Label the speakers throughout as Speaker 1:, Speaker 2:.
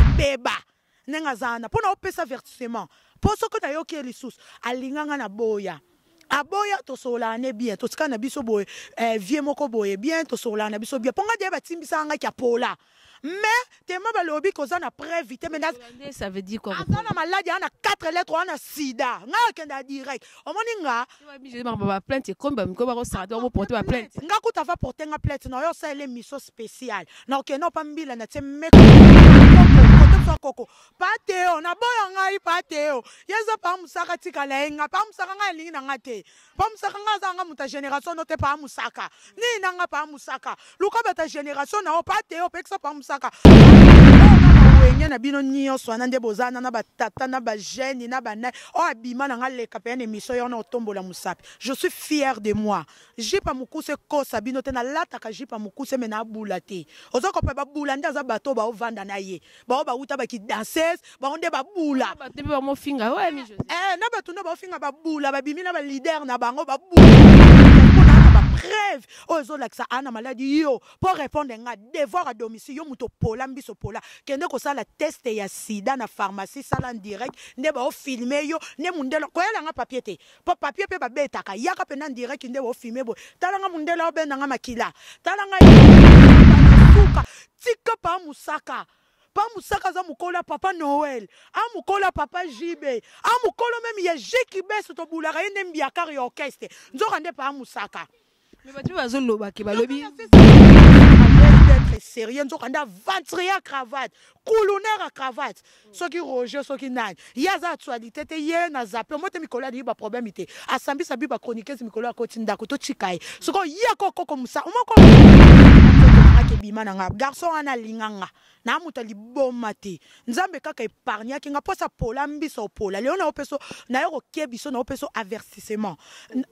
Speaker 1: ebeba ndenge aza wana mpo na opesa vertissement mpo soki nayoki ye lisusu alinga ngai na boya aboya tosololaka ne bien totikala na biso boye eh, vie moko boye bien tosololaka na biso bien mpo ngai deya batimbisaka ngai kiapola mais tema balobi koza na preuve te mais aza
Speaker 2: na maladi aa na 4
Speaker 1: lettre wana sida ngai akenda direct omoni nga ba
Speaker 2: plainte ekomi ba mikoba ko sarata ko porter ba plainte nga kuta va porter nga
Speaker 1: plainte na yo ça elle mission spéciale na ok non pas mbila na tse meko koko pateo na boya ngai pateo yeza pa musaka tika la enga pa musaka ngai lingi na nga te pa musaka ngai za nga muta génération no te pa musaka ni na nga pa musaka luka bata generation na yo pa te opekisa pa mosaka wenge na bino nyonso wana nde boza na na batata na bagene na banai oyo abima na ngai leka mpenza na emission yo wana otombola mosapi je suis fier de moi jipa mokuse ekosa bino te nalataka jipa mokuse me nabula te oza kopa babula nde aza bato baovanda na ye baoyo bawuta bakidanses bango nde babula
Speaker 2: eh, na bato nde baofinga
Speaker 1: babula babimi na balider na bango babula preuve oyo ezolakisa aa na maladi yo mpo répondre nga devoir à domicile yo moto opola mbiso pola kende kosala test ya sida na pharmacie sala direct nde baofilme yo nde mondele koyela nga papier te mpo papier mpe babetaka yaka mpe na direct nde baofilme boye tala nga mondele obenda nga makila tala nga suka Tika pa mosaka pa mosaka aza mokolo ya papa noel a mokolo ya papa jb a mokolo meme ya jeki beso tobulaka ye nde mbiakar ya orchestre nzoka nde pa mosaka me bato mpe
Speaker 2: bazoloba ke balobi
Speaker 1: d'être sérieux nzoka nde aventurier ya cravate kuluner ya cravate soki roger soki nani ye aza actualité te ye na zape omote mikolo alingi ba problème te asambisa bi ba chroniqueuse mikolo akoti ndako totika ye sikoyo ye kokoko mosa omoko akebima na nga garçon wana alinga nga na moto liboma te nzambe kaka epargnaki nga mposa pola mbisa opola lelo nayo mpeso nayo kokebiso nayo mpeso avertissement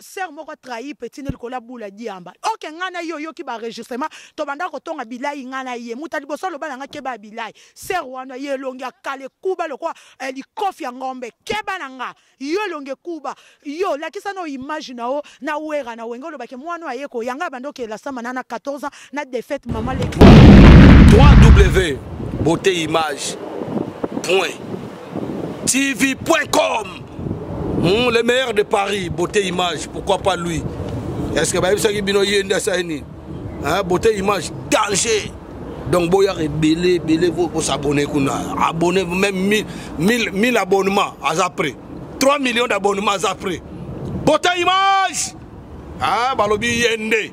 Speaker 1: Sœur moko a trahi petit ne likolo ya bula diamba. Ok nga na ye oyoki ba enregistrement tobanda kotonga bilayi nga na ye. Muta liboso aloba na nga keba ya bilayi. Sœur wana ye elongi ya kala ekuba lokola eh, likofi ya ngombe. Keba na nga. Yo elongi ekuba. Yo lakisa na image na yo na wera na wenge olobaki mwana oyo aye koyanga abanda okela sama na na 14 ans na
Speaker 3: defaite mama le 3w beauté image point tv.com hmm, le meilleur de paris beauté image pourquoi pas lui est ce que bayebisaki bino ye nde asali nini beauté image danger donc boyaka ebele ebele bosabone kuna abonne même 1000 abonnement aza près 3 millions d'abonnement aza près beauté image ah balobi ye nde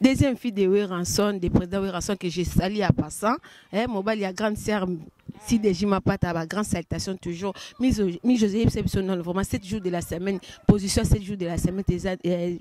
Speaker 2: Deuxième fille de Werrason, de président Werrason que j'ai sali à passant, eh, mobali ya grande sœur si déjà ma patte à grande salutation toujours mi José non vraiment 7 jours de la semaine position 7 jours de la semaine euh,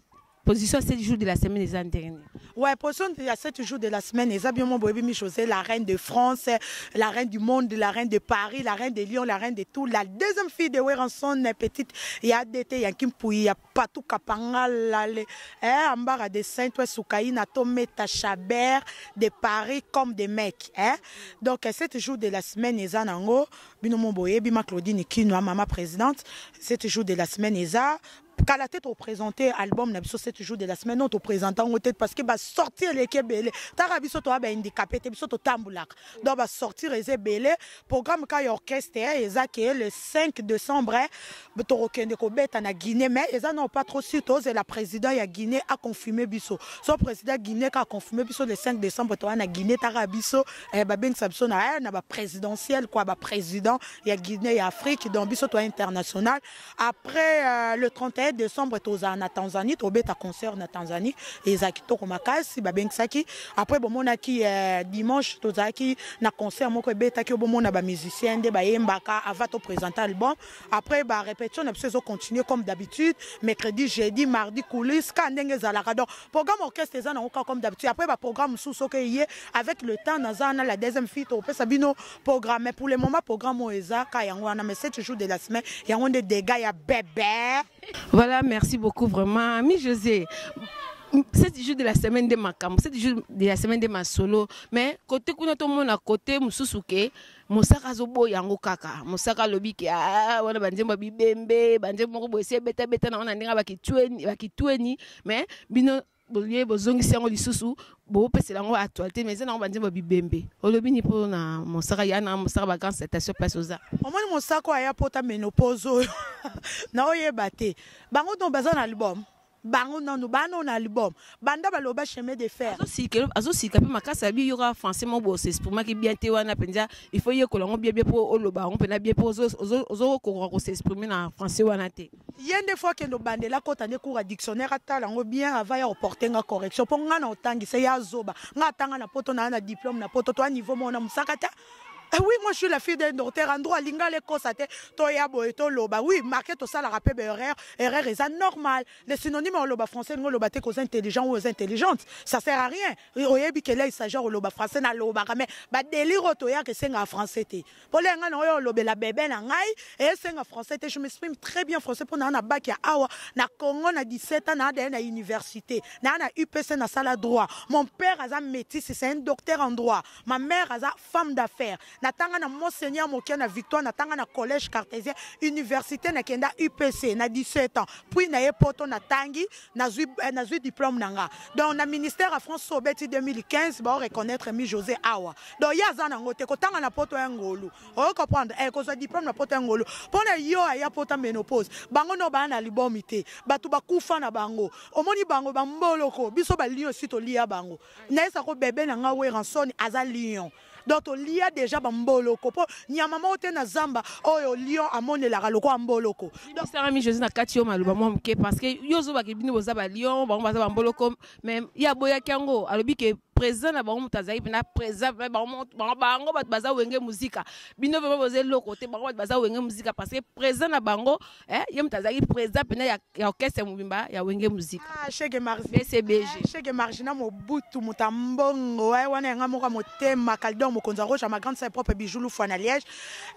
Speaker 2: position 7 jours de la semaine eza dernier ouais position ya
Speaker 1: 7 jours de la semaine eza bien mon boyebi mi José la reine de France la reine du monde la reine de Paris la reine de Lyon la reine de tout la deuxième fille de Werrason petite ya DT ya Kimpuyi ya patou kapanga lale eh, ambara de saint oe sukaina to meta chaber de paris comme de mec eh? donc eh, c'est toujours de la semaine eza nango bino mo boyebi ma claudine kinwa mama présidente c'est toujours de la semaine eza kala te topresente album na biso 7 jours de la semaine non topresente yango te parce que basorti eleki ebele taka biso toya bahandikape te biso totambulaka donc ba sortir eza ebele programme ka ya orchestre eh, eza ke le 5 décembre eh, tokokende kobeta na guinée mais eza nao pas trop sur tozela président ya guinée aconfirme biso so président guinée ka aconfirme biso le 5 décembre toa na guinée taka biso eh, babengisa biso na, eh, na baprésidentiel kua baprésident ya guinée ya afrique donc biso toa international Après euh, le 31 décembre tozala na Tanzanie tobeta concert na Tanzanie eza kitoko makasi babengisaki après bomonaki euh, dimanche tozalaki na concert moko ebetaki obomona ba musiciens nde bayembaka avant to présenter album après ba répétition na biso ezo continuer comme d'habitude mercredi jeudi mardi coulisse ka ndenge ezalaka donc programme orchestre eza nango ka comme d'habitude après ba programme mosusu soki eye avec le temps naza na la deuxième fille tokopesa bino programme mais pour le moment programme oyo eza ka yango wana mais c'est toujours de la semaine yango nde dégâts ya bebe voilà
Speaker 2: merci beaucoup vraiment mi josé c'est toujours de la semaine de makambo c'est toujours de la semaine de masolo mais kote kuna tomona kote mosusu ke mosaka azoboya yango kaka mosaka alobi ke ah, wana banzembo ya bibembe banzembo moko boye si ebetabeta na wana ndenge bakitweni mais bino bolie bozongisi yango lisusu bopesela yango actualité mais eza nango banzembo bibembe olobi ni mpo na mosaka ya na mosaka bagrand citation place oza omoni mosaka aya
Speaker 1: pota menopose oyo na oyeba te bango no baza na album bango nanu bana na album banda baloba chemin de fer azosika mpe
Speaker 2: makasi ya biyoka français moko bosesprimaki bien te wana mpenza il faut yekola yango biebie mpo oloba yango mpena bie mpo ozokokoka kosesprime na français wana te ye nde fo akende
Speaker 1: obandela akota nde cour ya dictionnaire atala yango bien ava ya oporte nga correction mpo nga na otangisa ye azoba nga atanga na poto naa na diplôme na poto to aniveau moko na mosaka te Eh oui, moi je suis la fille d'un docteur en droit lingala ekosa te toya boye toloba oui marke tosalaka mpe baerreur erreur eza normal le synonyme ya oloba français elingi oloba te koza intelligent ou oza intelligente ça sert à rien oyebi kele isagear oloba français nalobaka mais badelire oyo toyaka esengaka français te Olia nga na oyo olobela bebe na ngai et senga français te je m'exprime très bien français pona na bac ya awa na Congo na 17 ans na ada na université na na UPC na sala droit mon père aza métis c'est un docteur en droit ma mère aza femme d'affaires na tanga na monseigneur mokia na victoire na tanga na collège cartésien université na kenda UPC na 17 ans puis na ye poto na tangi nazwi eh, nazwi diplôme na nga donc na ministère ya france so obeti 2015 bao reconnaître mi josé awa donc ye aza nango te kotanga na poto ya ngolu oyo comprendre eh, kozwa diplôme na poto ya ngolu mpo na yo aya pota menopause bango no baya na libomi te bato bakufa na bango omoni bango bamboloko biso balion esi tolia bango nayesa ko bebe na nga weranson aza lion donc tolia deja bamboloko mpo nyama moko te na zamba oyo lion amonelaka lokola mboloko sarami josé na
Speaker 2: kati yo maloba mwa moke parce que yo ozobaki bino boza balion bango baza bamboloko mais ye aboyaki yango alobi ke présent na bango moto azalaki mpena présent bango bato baza wenge muzika bino vraimen boza eloko te bango bato baza wenge muzika parce que présent na bango eh, ye moto azalaki président mpena ya, ya orchestre mobimba ya wenge musika ah, cheke marcbcbg
Speaker 1: cheke
Speaker 2: marge na
Speaker 1: mobutu moto ya mbongo eh, wana yanga moko ya motema caldor mokonzi ya roche ya ma grande sa propre bijou lufua na liège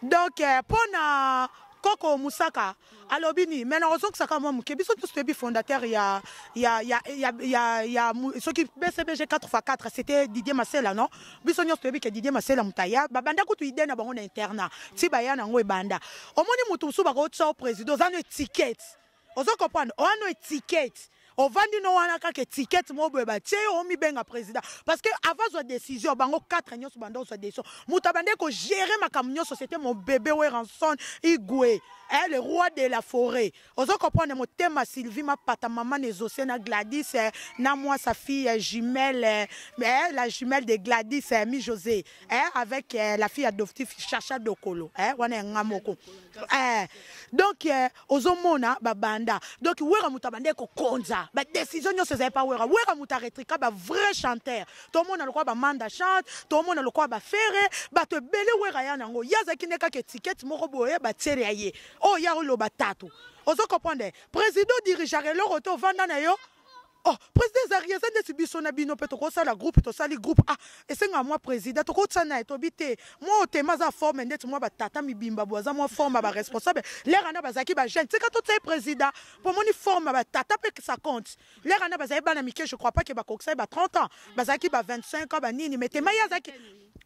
Speaker 1: donc eh, mpo na koko mosaka alobi nini mai nakozongisaka mwa moke biso nyonso toyebi fondateur ya, ya, ya, ya, ya, ya soki bcbg 4 x 4 c'était didier masela non biso nyonso toyebi ke Didier Masela moto aya babanda kutu idee na bango na internat ti baya na yango ebanda omoni moto mosusu bakotya o président oza no etiquette ozo comprendre oza no etiquette ovandi no wana kaka etiquette moko boye batye yo omibenga président parce que avant azwa décision bango 4 nyonso banda ozwa décision moto abandaki kogere makambo nyonso c'était mon bebe weranson igue eh, le roi de la forêt Ozo comprendre motema Sylvie mapata maman ezose na Gladys eh, na moi sa fille eh, jumelle eh, eh, la jumelle de Gladys eh, mi José eh, avec eh, la fille ya Doftif Chacha Dokolo eh, wana ya nga moko eh, donc eh, ozo mona ba banda donc wera muta bande ko konza ba décision nyoso ezali pa wera wera muta retrika ba vrai chanteur to mona lokwa ba manda chante to mona lokwa ba ferre bato ebele wera ya nango yazaki ne kaka étiquette moko boye ba tiere ya ye oyo ya oloba tatu ozo comprendre président dirigeaka eloko te ovanda na yo oh président ezalaki eza ndeti biso na bino mpe tokosala groupe tosali groupe ah esengaka mwa président tokotisa na ye tobi te mwa otema aza forme ndeti mwa batata mibimba bo aza mwa forme ya baresponsable lere wana bazalaki bajeune tika totia ye président mpo omoni forme ya batata mpe sa compte lere wana bazalaki bana mike je crois pas ke bakokisa ye ba 30 ans bazalaki ba 25 ans banini mais tema ye azalaki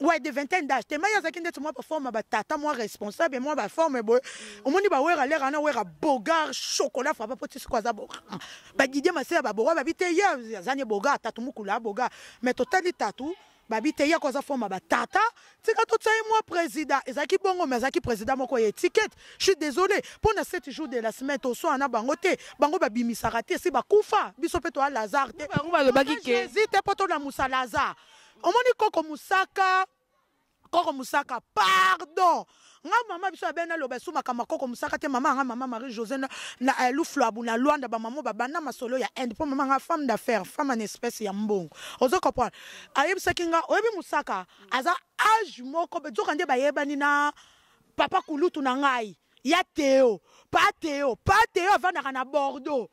Speaker 1: Ouais, de vingtaine d'âge. Tema ya zaki ndetu mwa ba forme ba tata mwa responsable mwa ba forme boy. Omoni ba wera lera na wera bogar chocolat frappa poti siko aza bo. Ba Didier Masela ba boga ba bite ya zanye boga tatu mukula boga. Mais totali tatu ba bite ya koza forme ba tata. Tika to tsaye mwa président ezaki bongo mais azaki président moko ya étiquette. Je suis désolé. Pour na 7 jours de la semaine to soa na bango te. Bango ba bimisa raté si ba kufa. Biso pe to a Lazare te. Bango ba lobaki ke. Jésus
Speaker 2: te poto na musa
Speaker 1: Lazare. omoni koko mosaka koko mosaka pardon nga mama biso abe naloba esu makambo ya koko mosaka te mama yanga mama marie josé na, na eh, lufluabu na luanda bamamo babanda masolo ya inde mpo mama nga femme d'affaires femme en espèce ya mbongo ozo comprendre ayebisaki nga oyebi mosaka aza age moko nzoka nde bayebani na papa kulutu na ngai ya teo pa teo pa teo avandaka na bordeaux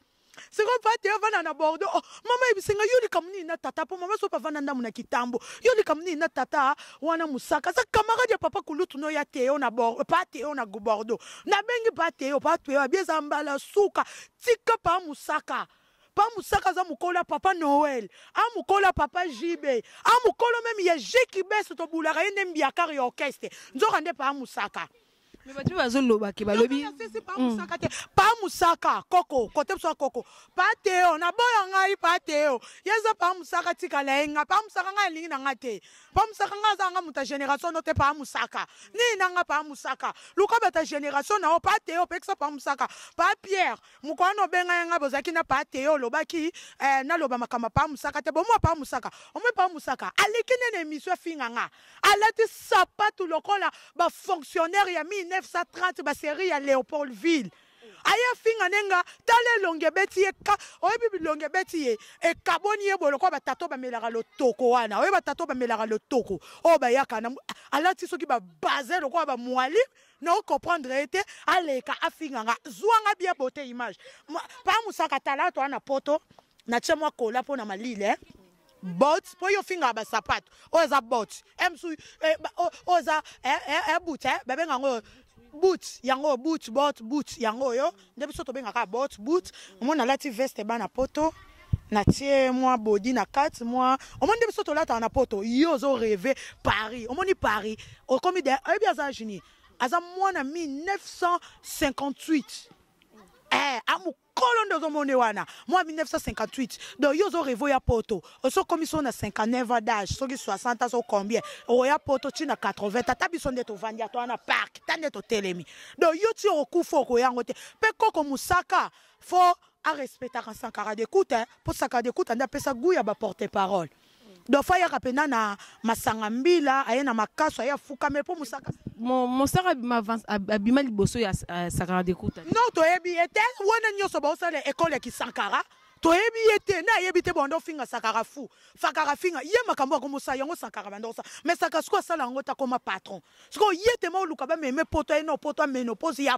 Speaker 1: sikoyo pate yo avanda na bordeaux oh, mama yebisenga yo likambo nini na tata mpo mama soki avanda ndambo na kitambo yo likambo nini na tata wana mosaka aza camarade ya papa kulutu no ya teo na pateo na bordeaux nabengi pateo pateo abi eza mbala suka tika pa mosaka pa mosaka aza mokolo ya papa noel amokolo ya papa jb amokolo meme ya jekibese tobulaka ye nde mbiakare ya orchestre nzoka nde pa mosaka Mais bato mpe
Speaker 2: bazoloba ke balobi sisi pa mosaka te
Speaker 1: pa mosaka koko kote biso ya koko pa teo naboya ngai pa teo ye eza pa mosaka tikala ye ngai pa mosaka ngai alingi na ngai te pa mosaka ngai azanga moto ya génération no te pa mosaka nini na ngai pa mosaka luka bato ya génération na yo pa teo opekisa pa mosaka pa pierre mokolo wana obenga ye ngai bozalaki na pa teo olobaki eh, naloba makambo ya pa mosaka te bomwa pa mosaka omoi pa mosaka aleki nene emission afinga ngai Alati sapatu lokola ba fonctionnaire ya 1930 ba serie ya Leopoldville. aye afinga nde nga tala elongi ebeti ye ka oyebi bilongi ebeti ye ekaboni ye boye lokola batata oyo bamelaka lotoko wana oyebi batata oyo bamelaka lotoko oyo bayaka na alati soki babaze lokola bamwali na okomprendre ye te aleka afinga nga zwa nga bien bote image pa mosaka tala to wana poto natie mwa kola mpo na malile eh? bot mpo yo ofingaka basapato oyo eza bot msu eh, oyo eza eh, eh, but babenga yango but yango but bot but yango oyo nde biso tobengaka bot but omona alati veste bana poto natie mwa bodi na kati mwa omoni nde biso tolataka na poto yo ozo reve paris omoni paris okomi de oyebi aza agenie aza mwana 1958 eh, kolo nde ozomona ye wana mwa 1958 donc yo ozo revo ya poto oso okomisi oyo na 59 ans d'age soki 60 ans so combien okoya poto ti na 80 ata biso nde tovandi ata wana park ta nde totelemi donc yo ti okokufa okoya yango te mpe koko mosaka fo arespectaka sankara de kuta mpo sankara de kuta nde apesa gout ya baporte parole dofa yaka mpenza na masanga mbila aye na makaso aye afukame mpo mosaka mosaka
Speaker 2: abima liboso ya euh, sakara dekuta no toyebi ye te
Speaker 1: wana nyonso baosala ekole ya kisankara toyebi ye te na ayebi te banda ofinga sakara fu fakara finga ye makambo akomosala yango sakara banda kosala mai saka sikoyo asala yango te akoma patron sikoyo ye te ma oluka bameme poto aye na opoto amenoposi ya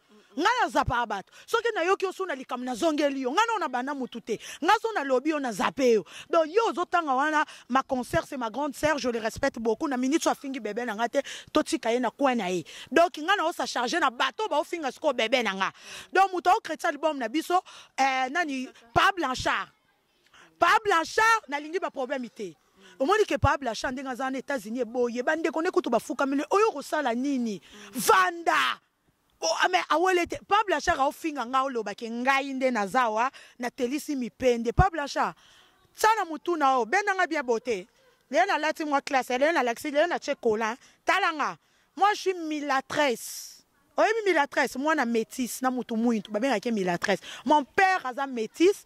Speaker 1: ngai nazapaka bato soki nayoki osu na likambo nazongeli yo ngai nao nabanda motu te ngai so nalobi yo nazape yo donc yo ozotanga wana ma concert c'est ma grande sœur je le respecte beaucoup na minute afingi bebe na ngai te totika ye na coin na ye donc ngai naosa charge na bato baofinga sikoyo bebe na ngai donc moto aokretisa album na biso eh, nani pa blanchard pa blanchard nalingi baproblème te omoni ke pa blanchard ndenge aza na états-unis eboye bandeko nde kutu bafukamile oyo okosala nini vanda Oh, ah, mais awa ah, te pa blanchard aofinga ngai oloba ke ngai nde naza awa natelisi mipende pa blanchard tya na motu na o benda ngai bien bote lelo nalati mwa classe lelo nalakisi lelo natye colin tala nga moi je suis milatresse oyebi milatresse mwana métisse na motu mwintu babengaki milatresse mon père aza métisse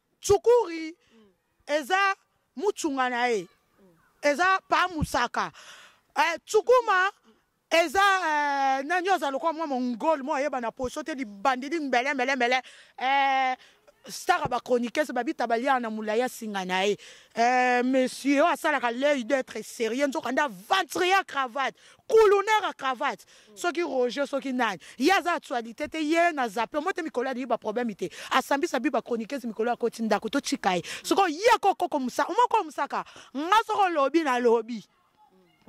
Speaker 1: Tsukuri eza mutshunga na ye eza pa musaka eh, tsukuma eza eh, nani oyo aza lokola mwa mongol mwa ayeba na poso te libandeli mbele mbele mbele eh, stara bachroniquese babita balia na molai asinga na ye eh, monsieur oyo asalaka l'œil d'être sérieux nzoka nde aventurier ya cravate kuluner ya cravate soki roger soki nani ye aza actualité te ye na zape omote mikolo alingi ba problème te asambisa bi ba chroniqueuse mikolo akoti ndako totika ye soko ye kokoko musa omoko musaka nga soko lobi na lobi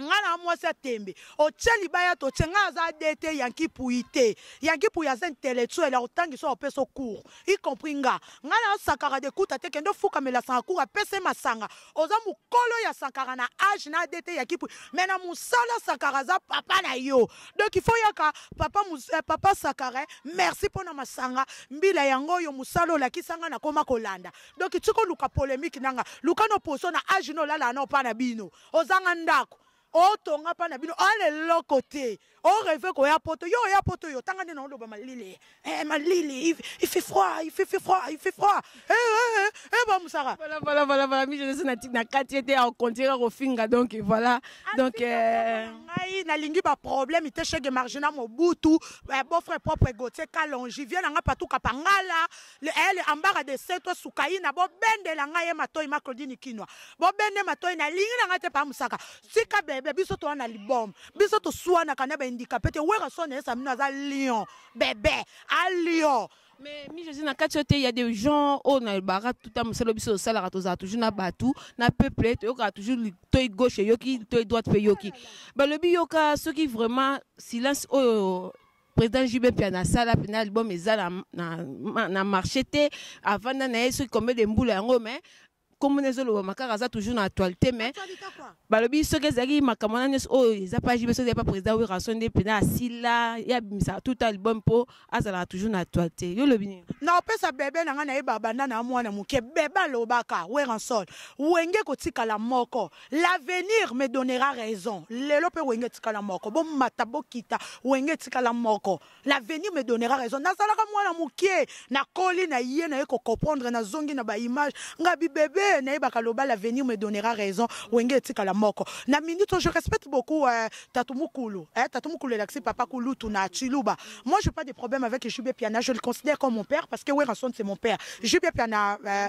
Speaker 1: nga na mwasi ya tembe otye libaya totye nga aza dete yanki puyi te yanki puyi aza intellectuel akotangisa opesa ocour y compris nga nga na asakaka dekuta te kende ofukamela sanga cour apesa ye masanga oza mukolo ya sankara na age na dt ya kipui me na mosala sankara aza papa na yo donc il faut yaka papa, mus, eh, papa sakara eh, merci mpo na masanga mbila yango oyo mosala olakisa nga nakoma kolanda donc tika oluka polemike nanga luka no poso na age na olala na opa na bino ozanga ndako otonga mpa na bino oala eloko te oreve koya poto yo oya poto yo tanga nde naoloba malili eh, malili ifi froid ifi fi froid ifi froid eh, eh, eh, eh, bamosaka voilà voilà voilà voilà mi
Speaker 2: jeunesse na na kati ete akontira kofinga donc voilà ah, donc euh, ngai
Speaker 1: nalingi baproblème te chege margina mobutu eh, beau frère propre gautier kalongi vie na ngai patou kapangala Le eh le ambara de se to sukaina bo bende la nga ye matoi ma Claudine Kinwa bo bende matoi na lingi na nga te pa musaka sika bebe biso to na libom biso to suana kana ba indika pete wera son esa mino aza lion bebe a lion mais mi jésus na
Speaker 2: kati te il y a des gens au na bara tout à muselo biso sala ka tozala toujours na batou na peuple to yoka toujours toi gauche yoki toi droite pe yoki balobi yoka soki vraiment silence oyo president jube mpiana asala mpena album eza na, na, na, na marché te avanda na ye soki combien de mbula yango mais nkombo na ezolobama kaka aza toujours na actualité mais balobi soki ezalaki makambo wana nyonso oyo eza pa jube soki epa président werason nde mpena asila ye abimisaka tout album mpo azalaka toujours na actualité yo olobi nini naopesa bebe
Speaker 1: na ngai nayeba banda na mwana moke bebe alobaka weranson wenge kotikala moko L'avenir me donnera raison lelo mpe wenge etikala moko bomata bokita wenge etikala moko l'avenir me donnera raison nazalaka mwana moke nakoli na ye na ye kocomprendre nazongi na baimage nga bibebe nayebaka loba l'avenir me donnera raison wenge etikala moko na minute je respecte beaucoup euh, tatu mukulu eh, tatu mukulu elakisi papa kulutu na chiluba moi je pas de problème avec jb piana je le considère comme mon père parce que werrason c'est mon père jb piana euh,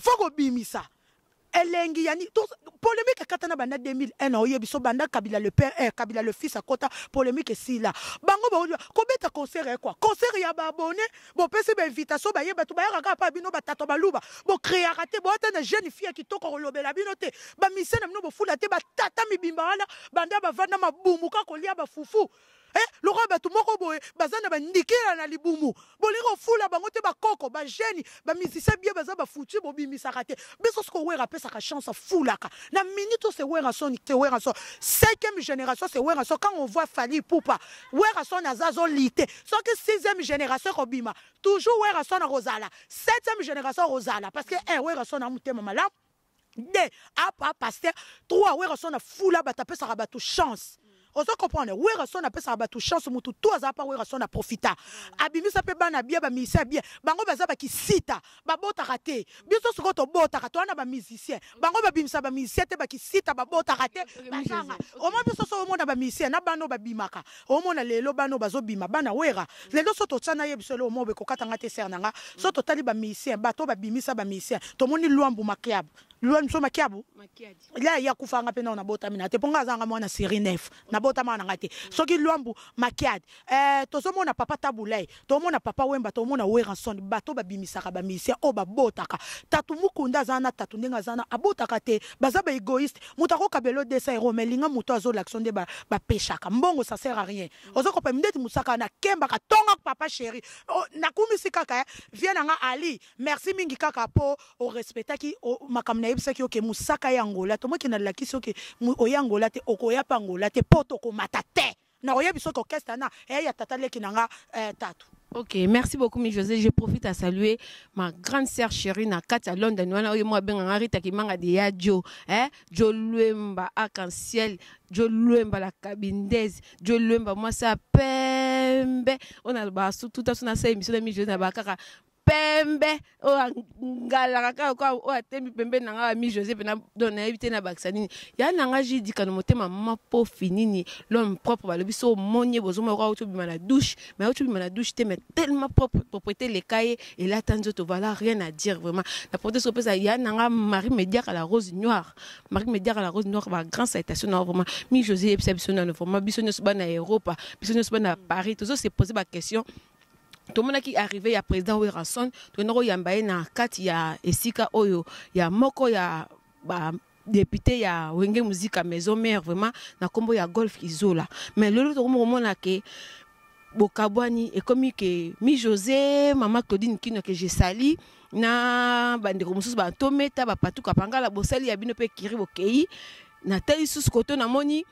Speaker 1: fo kobimisa elengi ya nini polemique ekatana banda 2001 na oyebi so banda kabila le père eh, kabila le fils akota polemique esila bango baoyo kobeta concert ya kwa concert ya baabone bopesi bainvitation baye bato bayaka kaka mpa bino batata baluba bokreaka te boata na jeune fille ya kitoko kolobela bino te bamise na bino bofula te batata mibimba wana banda bavanda mabumuka kolia bafufu Eh, lokola bato moko boye baza na bandikela na libumu bolingi kofula bango te bakoko bageni bamisisa bie baza bafuti bobimisaka te biso soko wera apesaka chance afulaka na minute ose werason te werason cinquième génération se werason quand on voit fali pupa werason aza azolite soki sixième génération ekobima toujours werason akozala septième génération akozala parce que un eh, werason na motema malamu de apa pasteur 3 werrason afula bato apesaka bato chance ozo comprendre werrason apesaka bato chance motu to aza pa werrason aprofita abimisa mpe bana bia bamisa bia bango baza bakisita babotaka te biso sikoyo tobotaka towana bamusicien bango babimisa bamusicien te bakisita babotaka te bazanga omwa biso so omona bamusicien na bana oyo babimaka Omona lelo bana oyo bazo bima bana werra lelo so totia na ye biso eloko moko ekokata nga te sœur na nga so totali ba musiciens bato ba bimisa ba musiciens tomoni luambu makiabu luambu biso makiabu ya ya kufa nga pe na botami na te po nga azanga mwana série 9 na botama na nga te soki luambu makiad euh tozo mona papa tabulay tomona papa wemba tomona weranson bato babimisaka bamisien oyo babotaka tatu mukunda aza na tatu ndenge aza na abotaka te baza ba egoïste moto akokabelo 200 euro mais linga moto azwa l'action nde bapeshaka mbongo ça sert à rien oza kopema ndeti mosaka na kemba katonga papa chéri oh, nakumisi kaka eh. vie na nga ali merci mingi kaka po orespectaki makambo nayebisaki oke mosaka ya angola tomoki nalakisi oke oya angola te okoya mpe angola te po tokomata te Nako yebi soki orchestre ana eh ya tata leki na nga eh tatu. Ok, merci
Speaker 2: beaucoup, mi José. Je profite à saluer ma grande sœur chérie na Katia London. Wana oyo moi benga ngari takimanga de ya Joe, hein? Joe Luemba arc-en-ciel, Joe Luemba la cabindaise, Joe Luemba moi sa pembe. On a le bas tout à son asa émission mi José na bakaka pembe oyo angalaka kaka kwa oyo atembi pembeni na ngai ami joseph na don nayebi te nabakisa nini ya na ngai jidikano motema mapofi nini l'homme propre balobi so omoni ye bozomona kwa auti obima na douche mais auti obima na douche te mais tellement propre propreté eleka ye elata nzoto voilà rien à dire vraiment na prote soki opesa ya na ngai marie mediaka la rose noire marie mediaka la rose noire ba grand citation na vraiment mi josé yebisa biso nano vraiment biso nyonso bana ya europa biso nyonso bana ya paris tozo se poser ba question tomonaki arrive ya président werrason tokenda koyamba ye na kati ya esika oyo ya moko ya ba député ya wenge muzika maison mère vraiment na nkombo ya golf izola mais lelo tokomi komona ke bokabwani ekomi ke mi josé mama claudine kino ke je sali na bandeko mosusu batometa bapatuka pangala bosali ya bino mpe kiri bokei natali susu koto namoni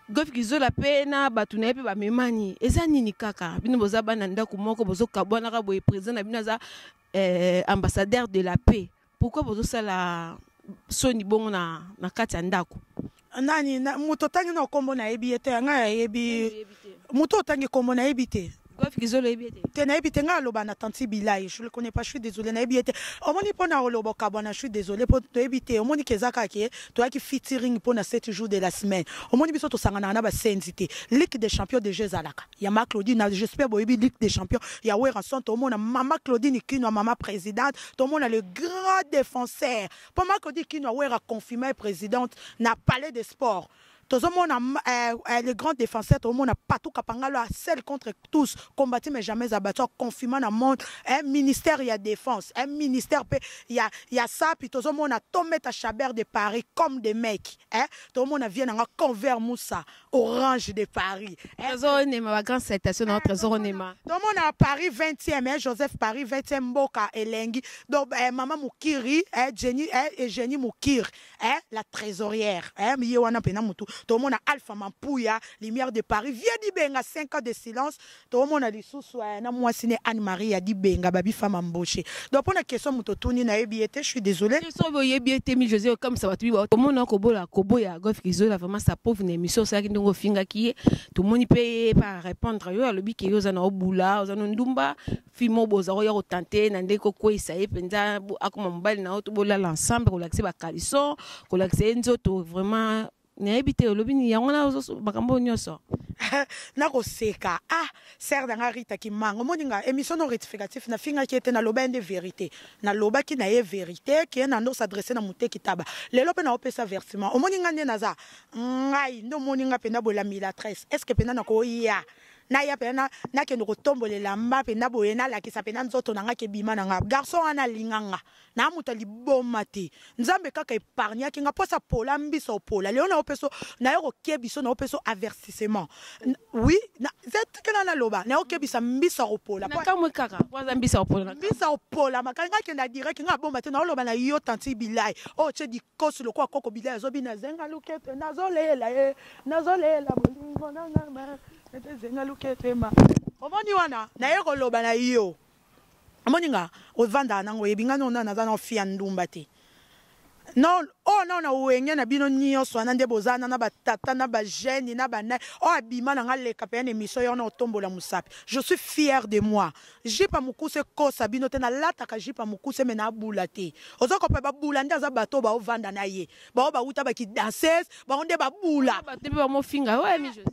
Speaker 2: Gof Kizola pe na bato na ye pe bamemani eza nini kaka bino boza bana ndako moko bozokabwanaka boye président na bino aza eh, ambassadeur de la paix pourquoi bozosala soni bongo na, na kati ya ndako nani na,
Speaker 1: moto otangi na nkombo nayebi ye te yanga yayebi moto otangi nkombo nayebi te
Speaker 2: te nayebi te ngai aloba
Speaker 1: na tanti bilai je le connais pas je suis désolé nayebi ye te omoni mpo na oloba okabwana je suis désolé mpo toyebi te omoni ke eza kaka ke toyaki featuring mpo na 7 jours de la semaine omoni biso tosanganaka na basenzi te ligue des champions déjà ezalaka ya ma claudine j'espère boyebi ligue des champions ya weranson tomona mama claudine kinwa mama présidente tomona le grand défenseur mpo ma claudine kinwa wera confirme présidente na palais de sport tozomona eh, eh, le grand défenseur tozomona patou kapangalo a seul contre tous combati mais jamais abattu confirma na monde eh, ministère ya défense eh, ministère mpe ya, ya sapi tozomona tometa chabert de paris comme des mecs eh, tozomona vie nanga convert moussa orange de paris eh, tozonema ba
Speaker 2: grand citation na trésor onema tomona paris
Speaker 1: 20e eh, joseph paris 20e mboka elengi donc eh, mama mokiri eh, jenny eh, eugénie mokiri eh, la trésorière eh, ye wana mpena motu tomona alpha mampuya lumière de paris vieux dibenga 5 ans de silence tomona lisusu eh, na mwasi ne anne maria dibenga babi femme embauche donc mpo na question moto otuni nayebi ye te je suis désolé soki oyebi ye te mi
Speaker 2: josé okamisa bato biba tomona kobola koboya golf kizola vraiment sa pauvre na émission osalaki ndenge ofingaki ye tomoni mpe ye pa répondre yo alobi ke yo oza na obula oza na ndumba fille moko boza koya kotante ye na ndenge kokweyisa ye mpenza akoma mobali na yo to bolala ensemble kolakisa ye bakalison kolakisa ye nzoto vraiment nayebi te olobi nini yango na makambo oyo nyonso
Speaker 1: nakoseka ah ser na nga rita kimanga omoni nga émission no rectificatif nafingaki ye te naloba ye nde vérité nalobaki na ye vérité ke na nde osadresse na moteki taba lelo mpe naopesa versement omoni nga nde naza ngai nde omoni nga mpenza bolamila tresse est ce que mpenza nakoya naya mpenza nakende kotombola elamba mpenza boye nalakisa mpenza nzoto na ngai kebima na ngai garçon wana alinga nga na moto liboma te nzambe kaka epargnaki nga mposa pola mbiso opola lelo nayo mpeso nayo koke biso nayo mpeso avertissement oui kena naloba nayo kebisa mbisa opola kamwe kaka waza
Speaker 2: mbisa opola mbisa opola
Speaker 1: makali nga kenda direct nga abomba te naoloba na yo tanti bilai oyo oh, tye dikosi lokola koko bilai azobi nazenga lukete nazolela ye nazolela bolingo nanga omoni wana naye koloba na yo omoni nga ovandaka nango oyebi nga nona naza na ofi ya ndumba te non oyo oh, nao na wenge na bino nyonso wana nde boza na na batata na bagene na bana oyo oh, abima na nga leka mpe ya na emission yo wana otombola mosapi je suis fier de moi jipa mokuse ekosa bino te nalataka jipa mokuse me naabula te oza kope babula nde aza bato oyo baovanda na ye baoyo bawuta bakidanses bango nde babula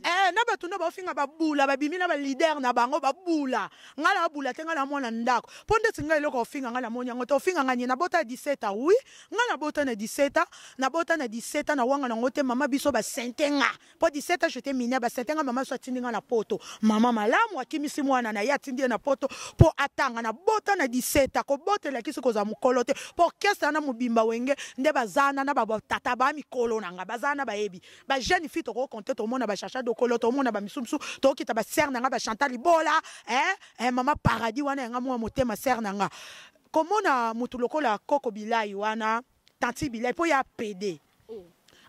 Speaker 1: eh,
Speaker 2: na bato nde baofinga
Speaker 1: babula babimi na balider na bango babula ngai nabula te ngai na mwana ndako mpo ndeti ngai eloko ofinga ngai namoni yango te ofinga ngai nie nabota na 17 ans wi ngai nabota na 17 ans nabota na 17 ans na wanga nango te mama biso basente nga po 17 ans j'étais mineure ba sentenga mama so atindi nga na poto mama malamu akimisi mwana na ye atindi ye na poto po atanga na bota na 17 ans kobota elakisi kozala mokolo te po orchestre wana mobimba wenge nde bazana na batata ba mikolo na nga bazana na bayebi ba jeune fille tokoki konte tomona ba chacha dokolo tomona ba misusu tokita ba sere na nga ba chantal libola eh, eh, mama paradis wana yanga mwa motema sere na nga komona motu lokola koko bilai wana tanti bilai mpo ya pede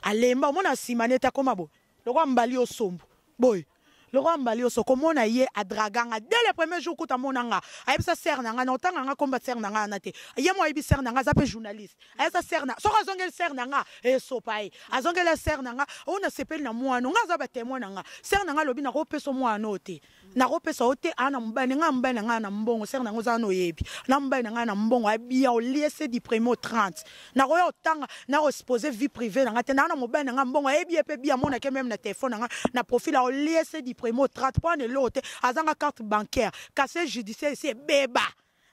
Speaker 1: alemba omona nsima nete akoma boye lokola mbali osombo boye lokola mbali oso komona ye adraga nga dès le premier jour kuta amona nga ayebisa sere na nga na otanga nga komba sere na nga wana te ye mo ayebi sere na nga aza mpe journaliste ayebisa sere na soki azongeli sere na nga esopa ye azongeli sere na nga oyo nasepeli na mwano nga aza batemoin na nga sere na nga alobi nakopesa mwano te nakopesa yo te aa na mobali na ngai mobali na ngai na mbongo sere na yango ozala na oyebi na mobali na ngai na mbongo abia olie se di premier au 30 nakoya otanga nakoexpose vie privée na ngai te naa na mobali na ngai mbongo ayebi ye mpe bi amonake meme na telefone na ngai na profil aolie se di premier au 30 mpo ana eloko te azanga carte bancaire casier judiciaire esi ebeba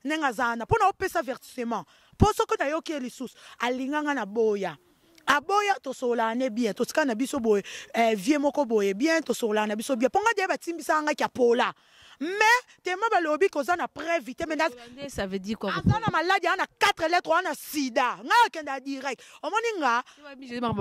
Speaker 1: ndenge aza wana mpo na opesa avertissement mpo soki nayoki ye lisusu alinga nga naboya aboya tosololaka ne bien totikala na biso boye eh, vie moko boye bien tosololaka na biso bien mpo nga deya batimbisaka nga kiapola mais tema balobi koza na preuve te mais ça veut dire quoi
Speaker 2: aza na maladi ana
Speaker 1: 4 lettre wana sida nga akenda direct omoni nga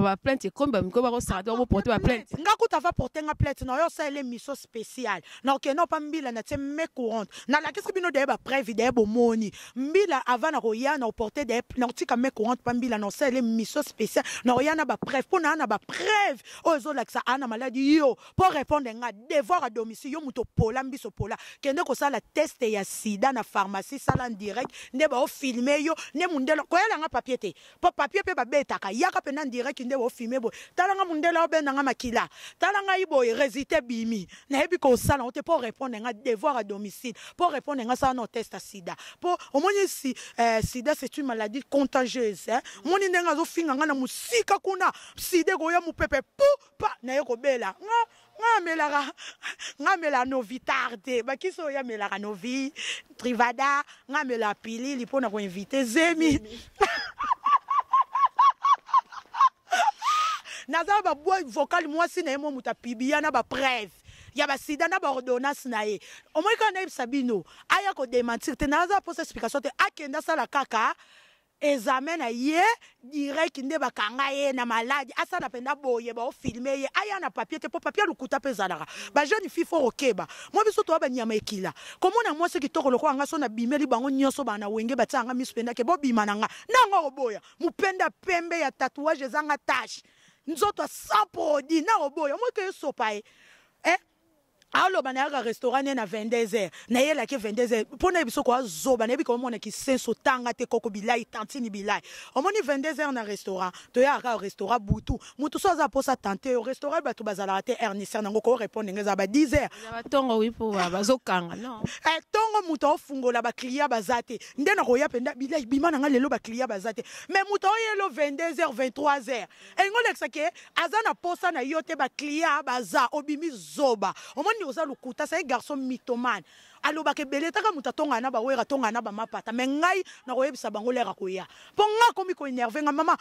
Speaker 1: ba
Speaker 2: plainte ekomi ba mikoba ko sarata ko porter ba plainte nga kuta va porter nga
Speaker 1: plainte na yo ça elle mission spéciale na ok non pas mbila na tse me courante na la qu'est-ce que bino d'ailleurs ba preuve d'ailleurs bomoni mbila avant na koya na porter d'ailleurs na tika me courante pas mbila na ça elle mission spéciale na ya na ba preuve pour na na ba preuve oh zo la ça ana maladie yo pour répondre nga devoir à domicile yo muto pola mbiso pola kende ko sala test ya sida na pharmacie sala en direct nde ba o filmer yo ne mundelo ko yala nga papier te Po papier pe ba betaka. Yaka pena en direct nde o fume boye. Tala nga mundele obenda nga makila. Tala ngai boye resultat ebimi. Nayebi kosala yango te po o repondre nga devoir à domicile. Po o repondre nga sala nao test ya sida. Po omoni si eh sida c'est une maladie contagieuse hein. Omoni ndenge azo finga nga na musika kuna. Sida ekoya mupepe puu pa naye kobela. Nga nga amelaka nga amela novitar te bakisi oyo amelaka novi trivada nga amela pilili mpo na koinvite zemi naza babwa vocal mwasi na ye mwa moto apibia na bapreve ya basida na baordonnance na ye omoi kaka nayebisa bino aya kodementir te naza mposa explication te akende asala kaka Examen na ye direct nde bakanga ye na malade asala penda boye bao filme ye aya na papier te po papier lukuta pe ezalaka ba jeune fille fo kokeba mwa biso toa banyama ekila komona mwasi kitoko lokola nga so na bimeli bango nioso ba na wenge batiaka nga misu penda ke bobima na nga nanga oboya mupenda pembe ya tatouage ezanga tache nzoto a sans produit nao boya moi ke esopa ye eh aloba nayaka restaurant ne na 22 heures nayelaki 22 heures mpo nayebi soko azoba nayebi ka omona kisenso tanga te koko bilai tantini bilai omoni 22 heures na restaurant toyaka kaka restaurant butu motu so aza mposa tante yo restaurant bato bazalaka te heure niser nango korepondre nge eza ba 10 heures batongo wi mpo
Speaker 2: bazokanga non eh, ntongo moto
Speaker 1: aofungola bacliya baza te nde nakoya mpenza bilai bima na ngai lelo bacliya baza te mais moto aoyelo 22 heures 23 heures elingi olekisa ke aza na posa na yo te baclia baza obimi zoba omoni oza lokuta sai garçon mitomane alobaka ebele taka moto atongana na bawera atongana na bamapata me ngai nakoyebisa bango lere akoya mpo ngai akomi koenerve ngai mama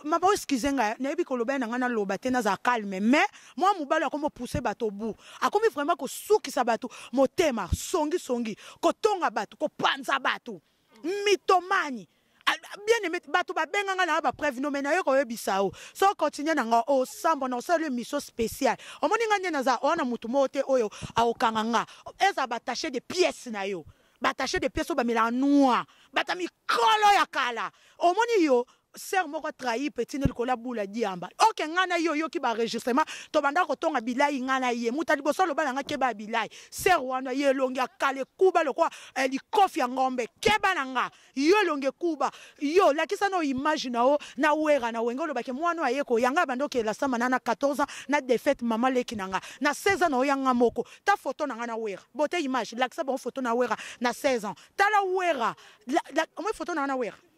Speaker 1: mama eskize ngai nayebi koloba na ngai naloba te nazala calme me mwa mobali akomi opuse bato obu akomi vraiment kosukisa bato motema songisongi kotonga bato kopanza bato mitomani ah, ah, bien aimé bato babenga ngai nanga bapreuve no mai naye koyebisa yo so continue na nga osambwa na osala yo mission spéciale omoni ngai nde naza owana motu moko te oyo akokanga nga ezala batache de pièce na yo batache de pièce oyo bamelaka noir bata mikolo ya kala omoni yo Sœur moko a trahi petit ne likolo ya bula diamba. Ok nga na ye oyoki ba enregistrement tobanda kotonga bilayi nga na ye. Muta liboso aloba na nga keba ya bilayi. Sœur wana ye elongi ya kale kuba lokola eh, likofi ya ngombe. Keba na nga. Yo elongi kuba. Yo lakisa no image na o na wera na wenge olobaki mwana oyo aye koya nga banda okela sama na na 14 ans na défaite mama leki na nga. Na 16 ans na oya nga moko. Ta photo na nga na wera. Bote image lakisa bango photo na wera na 16 ans. Tala wera. La, la, omoi photo na nga na wera.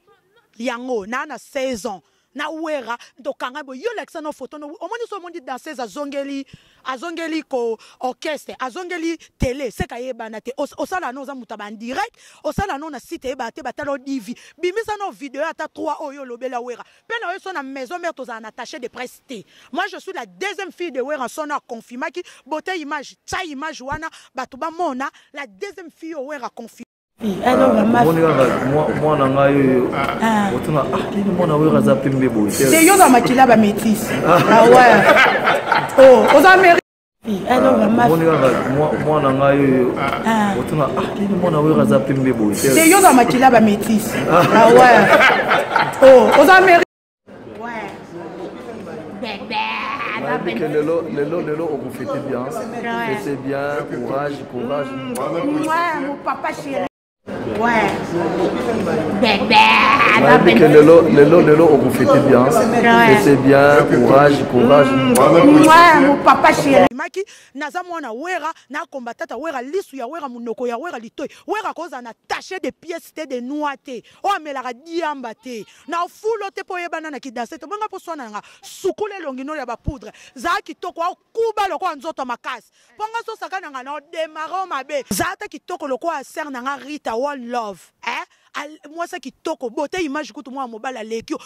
Speaker 1: Yango na na 16 ans na wera tokanga boye yo lakisa no photo no omoni so omoni danseuse azongeli azongeli ko orchestre azongeli tele seka yebana te osala no oza moto ya bandirect osala no na site eyebana te batala odivi bimisa no video ata 3 oyo olobela wera mpe na oyo so na maison mare tozala na tache de presse te moi je suis la deuxième fille de wera sono aconfirmaki bote image tya image wana bato bamona la deuxième fille oyo wera confirme omoni
Speaker 4: kaka mwana ngai oyo otuna nini mwana oyo aza pembe boye te yo oza makila ba
Speaker 1: métis awa oza mari omoni kaka
Speaker 4: mwana ngai oyo otuna nini mwana oyo aza pembe boye te yo oza makila ba
Speaker 1: métis awa oza mari lelo lelo lelo
Speaker 4: okofete bien fete bien courage courage mon papa chéri nayebike lelo lelo lelo okofete bien fete bien
Speaker 1: courage courage mon papa chéri maki naza mwana wera nakomba tata wera lisu ya wera monoko ya wera litoi wera kozala na tache de pièce te de noix te oyo amelaka diamba te na ofulo te mpo oyebana na kidase te bonga mposwana nanga sukula elongi nolo ya bapoudre zala kitoko akuba lokola nzoto ya makasi mpo nga sosaka na nga na odemaro mabe zala ata kitoko lokola ser na nga rita one love eh? mwasi kitoko bote image kutu mwana mobali aleki yo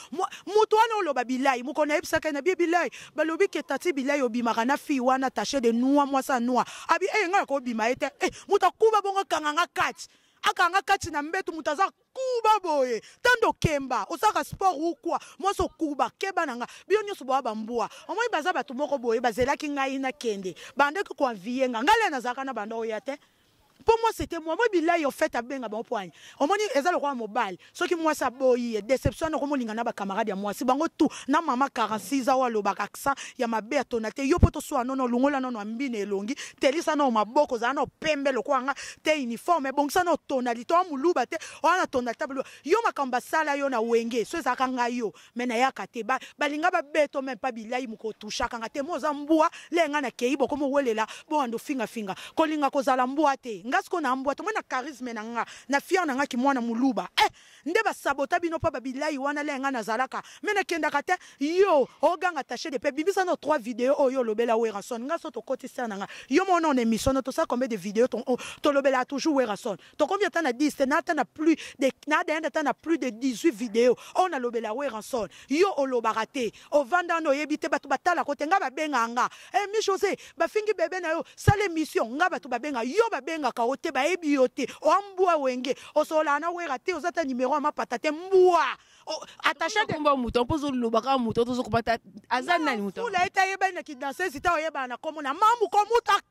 Speaker 1: moto wana oloba bilai mokolo nayebisaka na bie bilai balobi ke tati bilai obimaka na fille wana tache de noix mwasi ya noix abi eye eh, ngai nakobima ye te eh, moto akuba bongo kanganga kati akanga kati na mbetu moto aza kuba boye tando kemba osaka sport ukwa mwasi okuba keba na nga bino nyonso boya bambwa omoi baza bato moko boye bazelaki ngai nakende bandaki koanviye nga ngai le nazalaka na banda oya te mpo mwasi ete mwa moi bilai ofete abenga bango poani omoni eza lokola mobali soki mwasi aboyi ye deception wana okomolinga na bacamarade ya mwasi bango tu na mama 46 awa alobaka accent ya mabe atona te yo mpo toswa nono olungola nono ambina elongi telisa nao maboko ozala nao pembe lokola nga te uniforme ebongisa nao tonalite oa moluba te oa na tonalite yo makambo basala yo na wenge so ezalaka ngai yo mais nayaka te ba, balinga babeto meme pa bilai moko otushaka nga te mo oza mbwa le nga nakei bokomi owelela bowanda ofingafinga kolinga kozala mbwa te nga sikoyo na mbwa tomoni na charisme na nga na fiere na nga kimwana moluba eh, nde basabota bino mpo babilai wana le nga nazalaka me nakendaka te yo oganga tache de pe bimisa no trois video oyo olobela werason nga so tokoti sere na nga yo mona on emission no tosala combien de video tolobelaka toujours werason tokomi ata na 10 te na ata na plus de na adayanda ata na plus de 18 video oyo nalobela weranson yo olobaka te ovanda wana oyebi te bato batalako te ngai babengaka nga e mi josé bafingi bebe na yo sala émission ngai bato babenga yo babengaka yo te bayebi yo te oa mbwa wenge osololaka na wera te oza ata nimero ya mapata te mbwa attache de komba moto mpo ozoloba
Speaker 2: kaka moto tozokobata aza nani moto fula ete ayebani na
Speaker 1: kidansesi ta oyebana na kombo na mamu komuta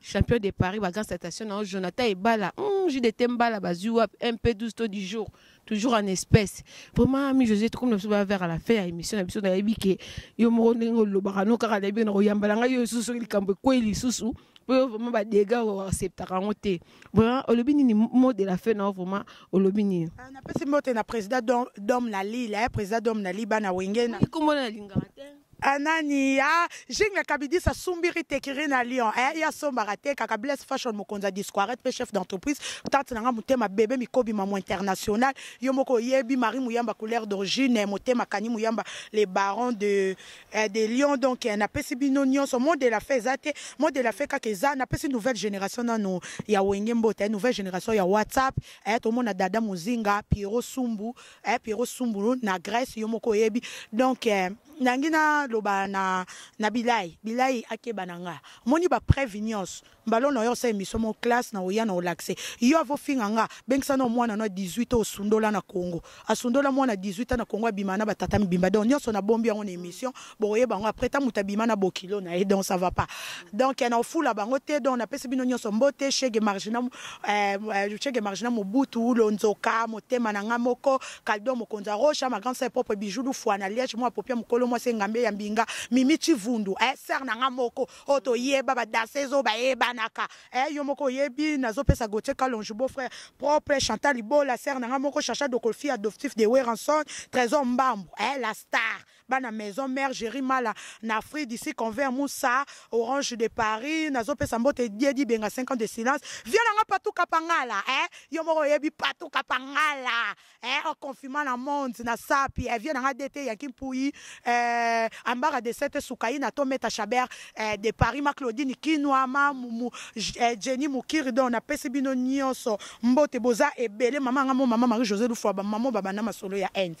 Speaker 2: champion de paris ba grand citation na yo jonathan ebala mm, jus de te mbala bazwi wapi mp 12 to du jour toujours en espèce vraiment ami josé tokomi na biso bavers à la fin ya émission na biso nayebi ke yo moko ndenge olobaka no kaka nayebi na koyambala ngai yo lisusu soki likambo ekwei lisusu mpo yo vraiment badega oacceptaka yango te vraiment olobi nini mot de la fin na yo vraiment olobi nini ah, napesi mbote
Speaker 1: na président dom na lile eh, président dom na li bana wenge na kombo na lingaka
Speaker 2: te Anania,
Speaker 1: Jingle Kabidisa Sumbiri Tekiri na Lyon. Eh, ya sombaka te kaka Bless Fashion mokonzi ya Disquaret pe chef d'entreprise. Tante na nga motema bebe mikobi mamu international. Yo moko oyebi Marie Muyamba couleur d'origine motema kani Muyamba les barons de eh, de Lyon donc eh, na pesi bino nyonso mot de la fin eza te. Mot de la fin kaka eza na pesi nouvelle génération nanu ya wenge mbota, eh, nouvelle génération ya WhatsApp. Eh, tomona dada Muzinga, Pierrot Sumbu, eh, Pierrot Sumbulu na Grèce yo moko oyebi donc eh, nangi naloba na, na bilai bilai akeba na nga omoni bapreuve nyonso mbalo na yo osa emission mo classe na oya na olakise yo avofinga nga bengisa na omwana na 18 osundola na congo asundola mwana 18 na congo abima na batata mibimba donc nyonso nabombi yango na emission bokoyeba yango après ta moto abima na bokilo na ye donc ça va pas donc na ofula bango te donc napesi bino nyonso mbote chege margina eh, eh, chege margina mobutu lonzoka motema na ngai moko kaldo mokonzi ya rocha ma grande sœur propre bijou lufua na liège mwa popia mokolo mwasi engambe ya mbinga mimi chivundu eh, sœur na ngai moko oyo toyeba badanseuse oyo bayebanaka eh, yo moko oyebi nazopesa gautier kalonge beau frère propre chantal libola sœur na ngai moko chacha dokolfi adoptif de weranson trésor mbambu eh, la star bana maison mère Jerry Mala na Afrique d'ici convert Moussa Orange de Paris nazo pesa mbote Diedi Benga 5 ans de silence viens nanga patou kapangala eh yo moko yebi patou kapangala eh en confinement na monde na sapi eh viens nanga DT Yankee Mpuyi eh ambara de cette soukaina to meta chaber eh, de Paris ma Claudine Kinwa ma mumu eh, Jenny Mukiri donc na pesi bino nyonso mbote boza ebele mama nga mo mama Marie José Lufwa ba mama ba bana masolo ya Inde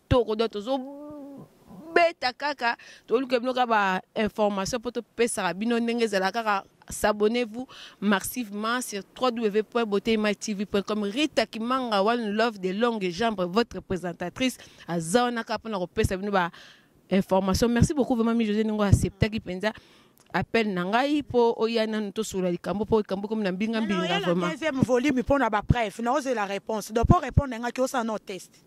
Speaker 2: toko do tozo beta kaka toluka bino kaka ba information mpo topesaka bino ndenge ezala kaka s'abonnez-vous massivement sur www.botematv.com Rita Kimanga One Love de Longue Jambre votre présentatrice aza wana kaka mpona kopesa bino ba information merci beaucoup vraiment mi José ndenge acceptaki mpenza appel na ngai mpo oya nanu tosolola likambo mpo likambo ekomi na mbinga mbinga vraiment deuxième volume mpo
Speaker 1: na ba preuve naozela réponse donc mpo répondre na ngai ki osala no test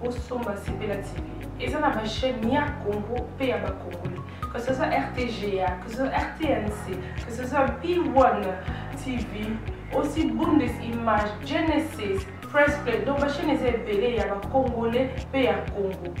Speaker 5: bosomba sepela tv eza na bachaine ya congo mpe ya bakongole que ce soit rtga que ce soit rtnc que ce soit p1 tv aussi bundes image genesis press play donc bachaine eza ebele ya bakongole mpe ya congo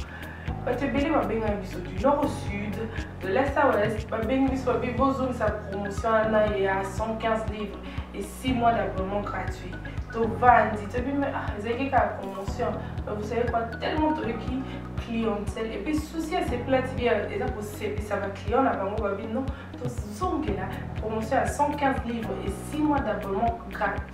Speaker 5: bato ebele babengana biso du nord au sud De la Saurest, babengi biso babi bozongisa promotion wana ya 115 livres et 6 mois d'abonnement gratuit tovandi toyebi me ah, ezalaki kaka promotion vous savez quoi tellement toyoki clientèle et puis souci ya sepela tv eza kosepisa baclient na bango babi non tozongela promotion ya 115 livres et 6 mois d'abonnement gratuit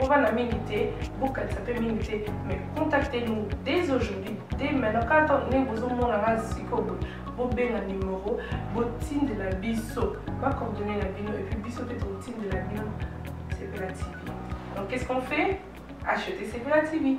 Speaker 5: Bovanda mingi te, bokanisa mpe mingi te, mais contactez nous dès aujourd'hui, dès maintenant, kaka ntango ndenge bozomona nga sikoyo boye, bobenga numero, botindela biso bacoordonne na bino, epuis biso mpe tokotindela bino Sepela TV. Donc qu'est-ce qu'on fait Acheter Sepela TV.